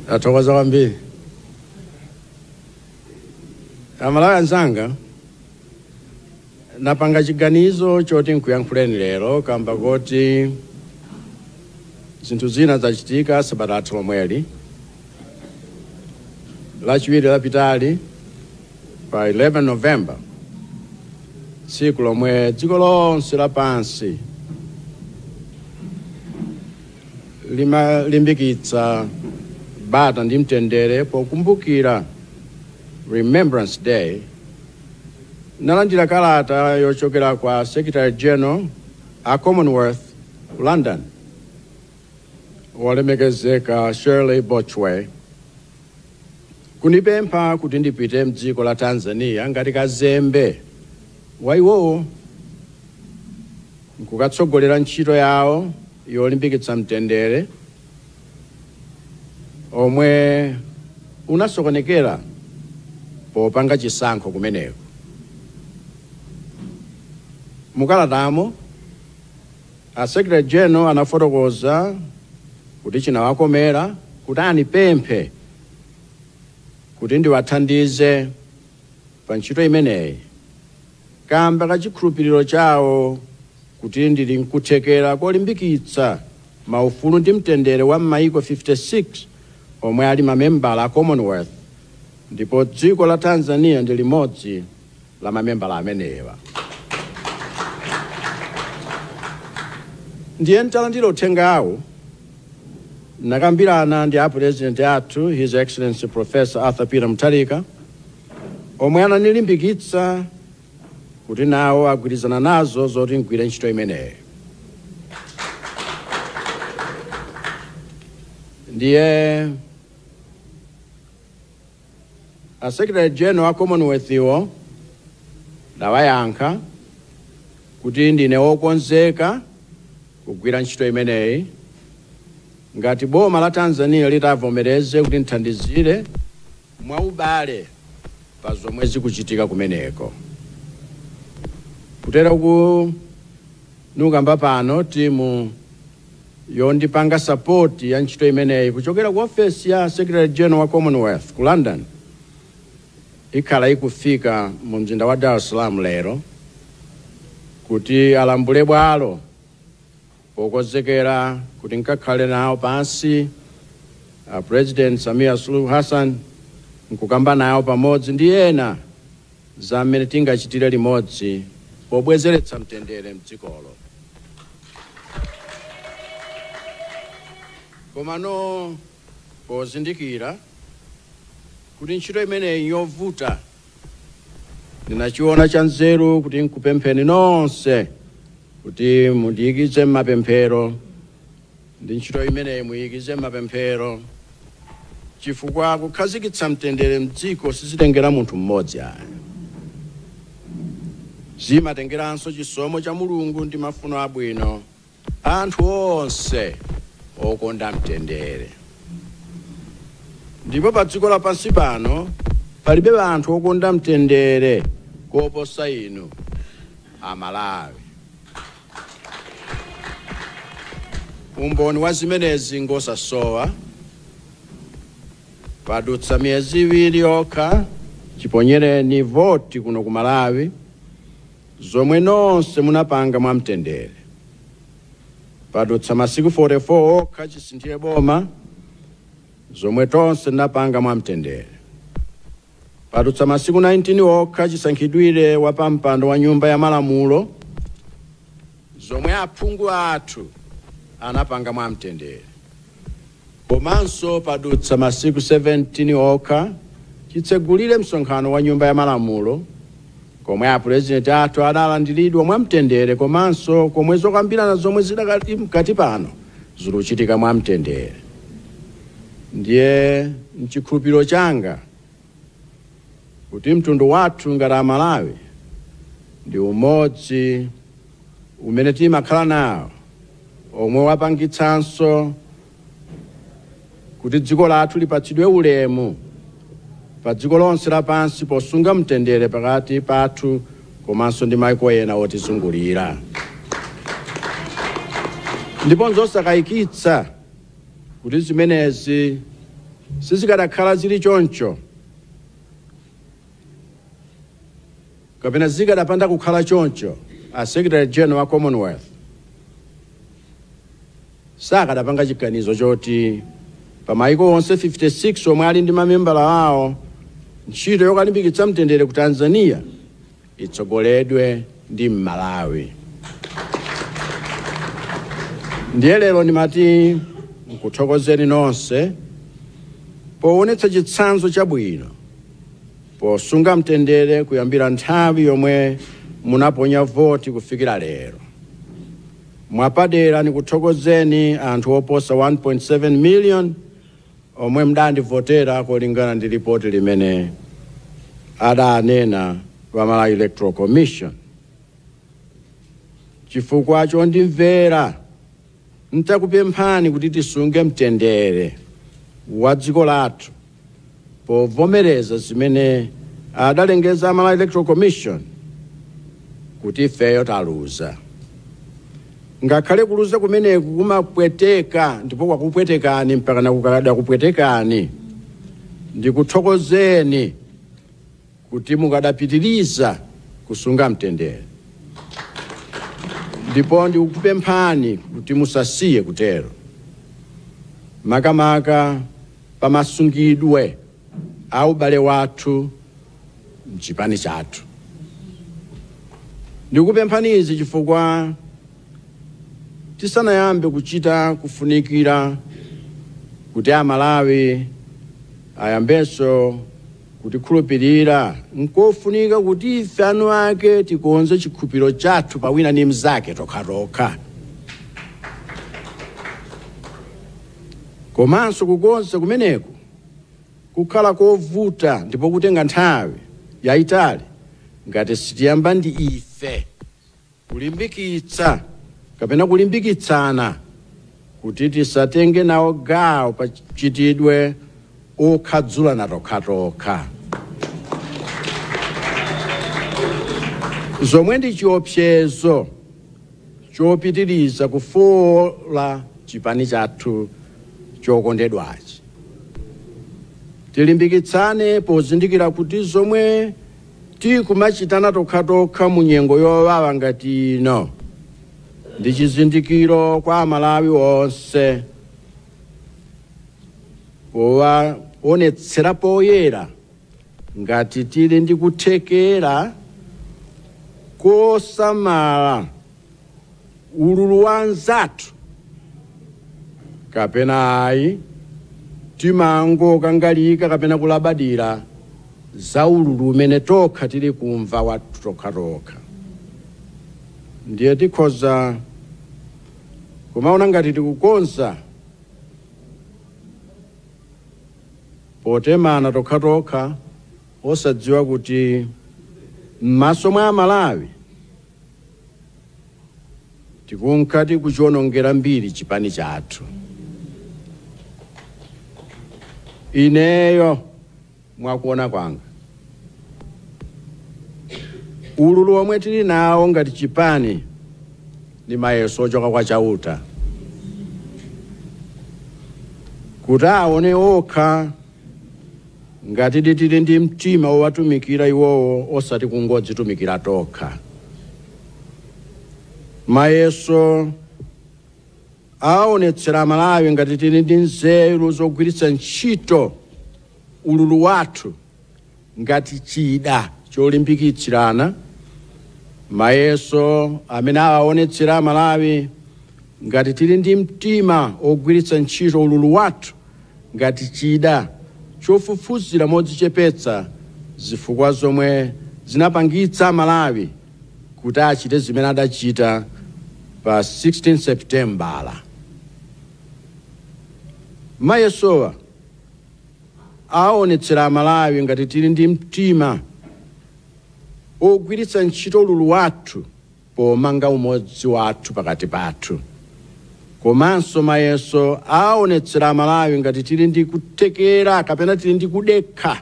Ndathokoza kwambiri aMalawi anzanga Ndapanga chiganizo choti nkuyankhuleni lero kamba koti zinthu zina zachitika sabata yathu yomweyi lachiwiri lapitali pa 11 november tsiku lomwe dziko lonse lapansi limalimbikitsa bata ndi mtendere pokumbukira remembrance day Ndinalandira kalata yochokera kwa Secretary-General a Commonwealth ku London, Wolemekezeka Shirley Botchwey, kunipempha kuti ndipite m'dziko la Tanzania ngati kazembe wa iwowo n'kukatsogolera ntchito yawo yolimbikitsa mtendere, omwe unasokonekera popanga chisankho kumeneko mukalatamo a secretary general anafotokoza kuti chinawakomera kuti anipemphe kuti ndiwathandize pa ntchito imeneyi kaamba ka chikhulupiriro chawo kuti ndiri nkuthekera kolimbikitsa maufulu ndi mtendere wa maiko 56 omwe ali mamembala a Commonwealth, ndipo dziko la Tanzania ndi limodzi la mamembala amenewa. Ndiye nditalandira uthengawu, ndinakambirana ndi a Pulezidenti athu, His Excellency Professor Arthur Peter Mutharika, omwe ananilimbikitsa kuti nawo agwirizana nazo zoti ndigwire ntchito imeneyi. Ndiye a Secretary General a Commonwealth wo ndinawayankha kuti ndine wokonzeka kugwira ntchito imeneyi ngati boma la Tanzania litavomereze kuti ndithandizire mwaubale pa zomwe zikuchitika kumeneko. Kuteroku ndikukamba pano timu yondipanga sapoti ya ntchito imeneyi kuchokera ku ofesi ya Secretary General wa Commonwealth ku London ikhala ikufika mu mzinda wa Dar es Salaam lero kuti alambule bwalo Pokozekera kuti nkakhale nawo pansi a President Samia Suluhu Hassan nkukamba nawo pamodzi ndi ena za mmene tingachitire limodzi pobwezeretsa mtendere mdzikolo. Komano pozindikira kuti ntchito imeneyi nyovuta, Ndinachiona chanzeru kuti nkupempheni nonse kuti mundiyikize m'mapemphero ndi ntchito imeneyi muyikize m'mapemphero chifukwa kukhazikitsa mtendere mdziko sizitengera munthu mmodzi ayi. Zimatengeranso chisomo cha Mulungu ndi mafuno abwino Anthu onse okonda mtendere. Ndipo pa dziko lapansi pano palibe anthu okonda mtendere koposa inu Amalawi. Umboni wa zimenezi ngosasowa. Padutsa miyezi iwiri yokha chiponyereni voti kuno ku Malawi. zomwe nonse munapanga mwa mtendere. Padutsa masiku 44 okha chisinthire boma, zomwe tonse tinapanga mwa mtendere. Padutsa masiku 19 okha chisankhidwire wapampando wa nyumba ya malamulo, zomwe aphungu athu anapanga mwa mtendere. Komanso padutsa masiku 17 okha chitsegulire msonkhano wa Nyumba ya Malamulo komwe apulezidenti athu adalandiridwa mwa mtendere komanso komwe zokambirana zomwe zidakali mkati pano zikuchitika mwa mtendere. Ndiye mchikhulupiriro changa. kuti mtundu wathu ngati Amalawi ndi umodzi umene timakhala nawo omwe wapangitsanso kuti dziko lathu lipatsidwe ulemu pa dziko lonse lapansi posunga mtendere pakati pathu komanso ndi maiko ena otizungulira ndipo nzosakayikitsa kuti zimenezi sizikanakhala zili choncho kapena zikanapanda kukhala choncho a secretary general a commonwealth sakanapanga chiganizo choti pa maiko onse 56 omwe ali ndi mamembala awo ntchito yokalimbikitsa mtendere ku tanzania itsogoledwe ndi m'Malawi. Ndiye lero ndimati nkuthokozeni nonse powonetsa chitsanzo chabwino posunga mtendere kuyambira nthawi yomwe munaponya voti kufikira lero. Mwapadera ndikuthokozeni anthu oposa 1.7 million Omwe mudandivotera kolingana ndi lipoti limene adanena a Malawi Electoral Commission chifukwa chondimvera ntakupemphani kuti tisunge mtendere wa dziko lathu povomereza zimene adalengeza a Malawi Electoral Commission kuti ifeyo taluza. Ngakhale kuluza kumeneko kumapweteka ndipo kwakupwetekani mpakana kukadakupwetekani, ndikuthokozeni kuti mukadapitiriza kusunga mtendere ndipo ndikukupemphani kuti musasiye kutero, makamaka pamasungidwe a ubale wathu m'chipani chathu. Ndikukupemphani izi chifukwa tisanayambe kuchita zofunikira kuti Amalawi ayambenso kutikhulupirira, n'kofunika kuti ife eni ake tikonze chikhulupiriro chathu pa wina ndi mnzake tokhatokha, komanso kukonza kumeneko kukhala kovuta ndipo kutenga nthawi yaitali ngati sitiyamba ndi ife kulimbikitsa kapena kulimbikitsana kuti tisatenge nawo gawo pa mchitidwe okhadzulana tokhatokha zomwe ndi chiopsezo chopitiriza kufoola chipani chathu chokondedwachi. Tilimbikitsane pozindikira kuti zomwe tikumachitana tokhatokha mu nyengo yowawa ngati ino ndi chizindikiro kwa Amalawi onse chowaonetsera poyera Ngati tili ndi kuthekera kosamala ululu wa anzathu kapena ayi, timangokangalika kapena kulabadira za ululu umene tokha tili kumva wathu tokhatokha. Ndiye tikhoza kumaona ngati tikukonza potemana tokhatokha osadziwa kuti m'maso mwa amalawi tikunka tikuchionongera mbiri chipani chathu. Ineyo mwakuona kwanga ululu omwe tili nawo ngati chipani Ndi mayeso ochoka kwa Chauta, kuti aone okha ngatidi tili ndi mtima wowatumikira Iwowo osati kungodzitumikira tokha. Mayeso awaonetsera Amalawi ngati tili ndi nzeru zogwiritsa ntchito ululu wathu. ngati chida cholimbikitsirana mayeso amene awaonetsera Amalawi ngati tili ndi mtima wogwiritsa ntchito ululu wathu ngati chida chofufuzira modzichepetsa zifukwa zomwe zinapangitsa Amalawi kuti achite zimene adachita pa 16 Sepitembala. Mayesowa awaonetsera Amalawi ngati tili ndi mtima ogwiritsa ntchito ululu wathu pomanga umodzi wathu pakati pathu. Komanso mayeso awaonetsera Amalawi ngati tili ndi kuthekera kapena tili ndi kudekha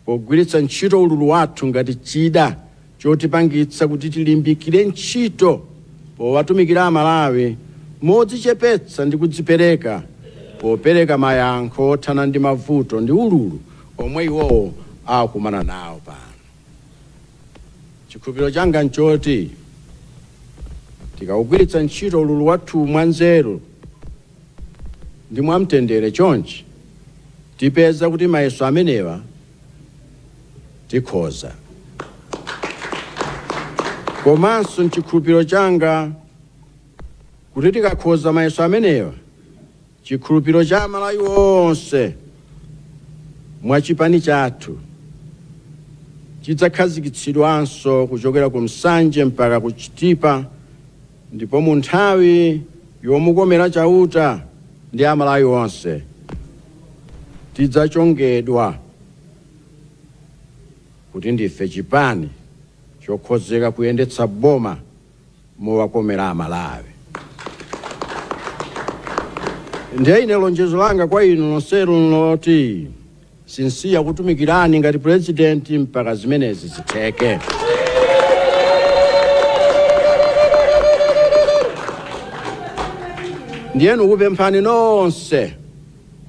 pogwiritsa ntchito ululu wathu ngati chida chotipangitsa kuti tilimbikire ntchito powatumikira Amalawi modzichepetsa ndi kudzipereka popereka mayankho othana ndi mavuto ndi ululu omwe iwowo akukumana nawo pano. Chikhulupiriro changa n'choti tikaugwiritsa ntchito ululu wathuwu mwanzeru ndi mwamtendere chonchi, tipeza kuti mayeso amenewa tikhoza. Komanso n'chikhulupiriro changa kuti tikakhoza mayeso amenewa, chikhulupiriro cha Amalawi onse mwa chipani chathu chidzakhazikitsidwanso kuchokera ku Nsanje mpaka ku Chitipa, Ndipo mu nthawi yomukomera Chauta ndi Amalawi onse, tidzachongedwa kuti ndife chipani chokhozeka kuyendetsa boma mowakomera Amalawi. Ndiye ine lonjezo langa kwa inu nonsenu n'loti, Sinsiya kukutumikirani ngati Pulezidenti mpaka zimenezi zitheke. Ndiye ndikupemphani nonse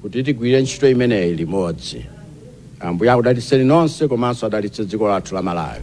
kuti tigwirire ntchito imeneyi limodzi. Ambuye akudalitseni nonse komanso adalitse dziko lathu la Malawi.